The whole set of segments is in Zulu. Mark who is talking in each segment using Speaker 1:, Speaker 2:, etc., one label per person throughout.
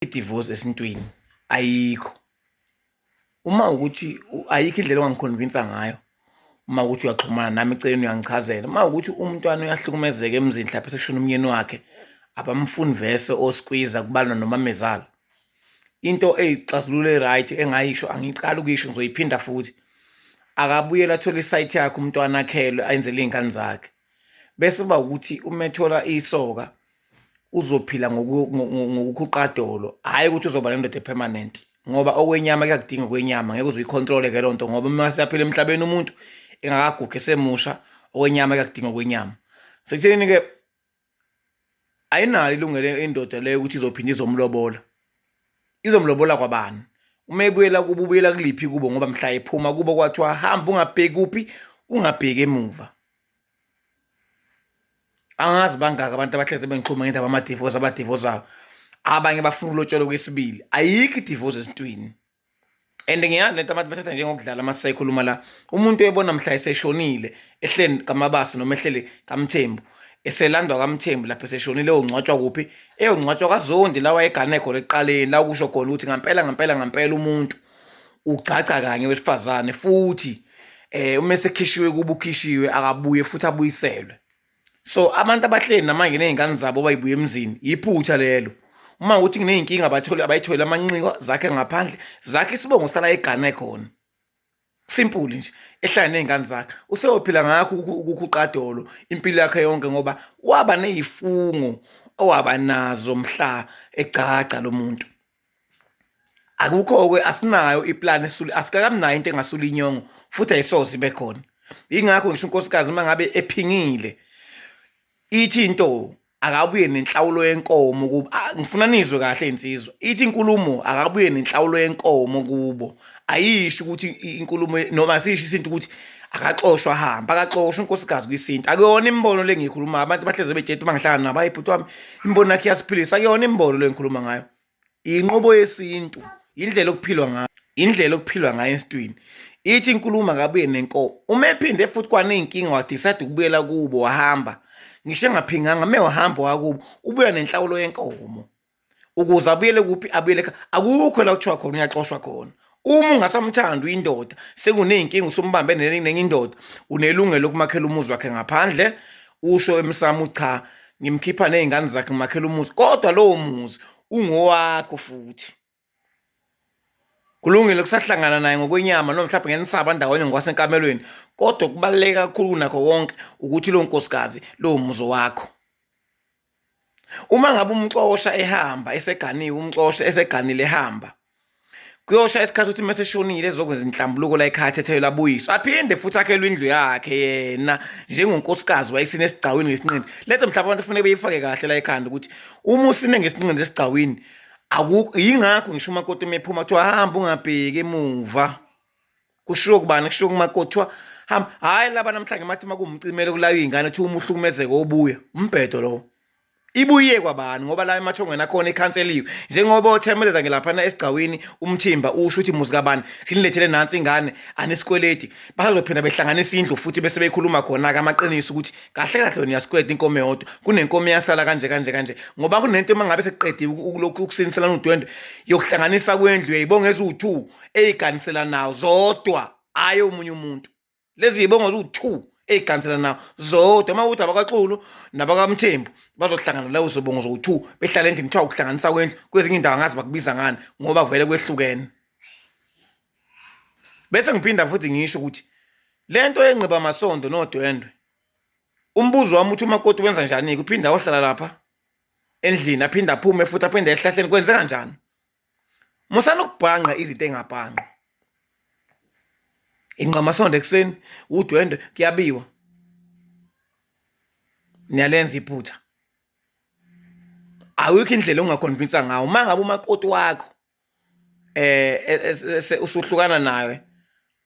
Speaker 1: idivorce esintwini ayikho uma ukuthi ayikho indlela ongangikhonvinsa ngayo uma ukuthi uyaxhumana nami eceleni uyangichazela uma ukuthi umntwana uyahlukumezeka emzini mhlawumbe sekushona umyeni wakhe abamfuni vese oskwiza kubalwa nomamezala into eyixazululo e-right engayisho angiqali ukuyisho ngizoyiphinda futhi akabuyela athole isayithi yakhe umntwana akhelwe ayenzele iy'ngane zakhe bese uba ukuthi uma ethola isoka uzophila ngokukhuqadolo hhayi ukuthi uzoba nendoda epermanent ngoba okwenyama kuyakudinga okwenyama ngeke uze uyikhontrole-ke loo nto ngoba uma siyaphila emhlabeni umuntu engakagugi esemusha okwenyama kuyakudinga okwenyama sekutheni-ke ayinalo ilungele indoda leyo ukuthi izophinde izomlobola izomlobola kwabani uma ebuyela kubo ubuyela kuliphi kubo ngoba mhla ephuma kubo kwathiwa hamba ungabheki kuphi ungabheki emuva angazi bangaka abantu abahleze bengiqhuma ngendaba amadivosi abadivosayo abanye bafuna ulotshelwa kwesibili ayikho idivosi esintwini and ngiyani lento abantu bathatha njengokudlala uma sisayikhuluma la umuntu oyebona mhla eseshonile ehleni kamabaso noma ehleli kamthembu eselandwa kamthembu lapho eseshonile eyongcwatshwa kuphi eyongcwatshwa kazondi lawa egane khona ekuqaleni la kusho khona ukuthi ngampela ngampela ngampela umuntu ugcagca kanye wesifazane futhi eh uma sekhishiwe kuba ukhishiwe akabuye futhi abuyiselwe so abantu abahleli namanje nezingane zabo bayibuye emzini yiphutha lelo uma ukuthi ngineyinkinga abathole abayithole amanxiwa zakhe ngaphandle zakhe isibongo sala egana ekhona simple nje ehlala nezingane zakhe useyophila ngakho ukukhuqadolo impilo yakhe yonke ngoba waba nezifungo owaba nazo mhla egcagca lomuntu akukho-ke asinayo iplan esule asikakamnayo into engasula inyongo futhi ayisoze ibe khona yingakho ngisho unkosikazi uma ngabe ephingile ithi into akabuye nenhlawulo yenkomo kubo ngifuna nizwe kahle insizwa ithi inkulumo akabuye nenhlawulo yenkomo kubo ayisho ukuthi inkulumo noma asisho isintu ukuthi akaxoshwa hamba akaxoshwa unkosikazi kwisintu akuyona imibono le ngiyikhulumayo abantu bahleze bejeti uma ngihlangana nabo hayi bhuti wami imibono yakhe iyasiphilisa akuyona imibono le ngikhuluma ngayo inqubo yesintu indlela okuphilwa ngayo indlela okuphilwa ngayo esintwini ithi inkulumo akabuye nenkomo uma ephinde futhi kwaney'nkinga wadisayide ukubuyela kubo wahamba ngisho engaphinganga me wahamba wakubo ubuya nenhlawulo yenkomo ukuze abuyele kuphi abuyele ekhaya akukho la kuthiwa khona uyaxoshwa khona uma eh. ungasamthanda uyindoda sekuney'nkinga usumbambe nenye indoda unelungelo lokumakhela umuzi wakhe ngaphandle usho emsamo cha ngimkhipha ney'ngane zakhe ngimakhela umuzi kodwa lowo muzi ungowakho futhi Kulungile kusahlangana naye ngokwenyama noma mhlawumbe ngenisaba ndawonye ngokwasenkamelweni kodwa okubaluleke kakhulu kunakho konke ukuthi lo nkosikazi lowo muzi wakho. Uma ngabe umxosha ehamba eseganiwe umxosha eseganile ehamba kuyosha isikhathi ukuthi mase shonile ezokwenza inhlambuluko la ekhaya athethelwe labuyiswa aphinde futhi akhelwe indlu yakhe yena njengonkosikazi wayisine esigcawini ngesinqindi lethe mhlawumbe abantu kufanele beyifake kahle la ekhanda ukuthi uma usine ngesinqindi esigcawini akukho yingakho ngisho umakoti uma ephuma kuthiwa hamba ungabheki emuva kushiwo kubani kushiwo kumakoti kuthiwa hamba hhayi laba namhlanje mathi uma kuwumcimele kulayo iy'ngane kuthiwa uma uhlukumezeke obuya umbhedo lowo ibuye kwabani ngoba la emathongweni akhona ikhanseliwe njengoba othemeleza ngelaphana esigcawini umthimba usho ukuthi muzi kabani sinilethele nansi ingane anisikweleti basazophinda behlanganisa indlu futhi bese bekhuluma khona-ke amaqiniso ukuthi kahle kahle wena uyasikweda inkomo eyodwa kunenkomo eyasala kanje kanje kanje ngoba kunento uma ngabe sekuqediwe ukulokhu ukusiniselana udwendwe yokuhlanganisa kwendlu yayibonga eziwu-two eyiganisela nawo zodwa hhayi omunye umuntu lezi yibonga ziwu-two eyiganisela nawo zodwa uma ukuthi abakaxulu nabakamthembu bazohlangana lawo zobongo zowu-two behlala endlini kuthiwa ukuhlanganisa kwendlu kwezinye indawo angazi bakubiza ngani ngoba vele kwehlukene bese ngiphinda futhi ngisho ukuthi le nto yenqiba amasondo nodwendwe umbuzo wami uthi umakoti wenza njani-ke uphinde ayohlala lapha endlini aphinde aphume futhi aphinde ehlahleni kwenzeka njani musana ukubhanqa izinto engabhanqwa inqamasondo ekuseni udwendwe kuyabiwa niyalenza iphutha awikho indlela ongakhonvinsa ngawo uma ngabe umakoti wakho eh e, usuhlukana naye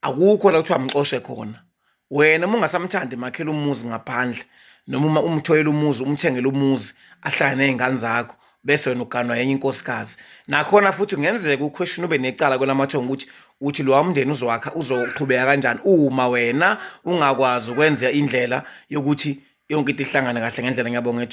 Speaker 1: akukho la kuthiwa mxoshe khona wena uma ungasamthandi makhela umuzi ngaphandle noma uma umthoyela umuzi umthengele umuzi ahlale nezingane zakho bese wena uganwa yenye inkosikazi nakhona futhi kungenzeka uquestion ube necala kwelamathongo ukuthi uthi lo wamndeni uzowakha uzoqhubeka kanjani uma wena ungakwazi ukwenza indlela yokuthi yonke into ihlangane kahle ngendlela ngiyabonga ethu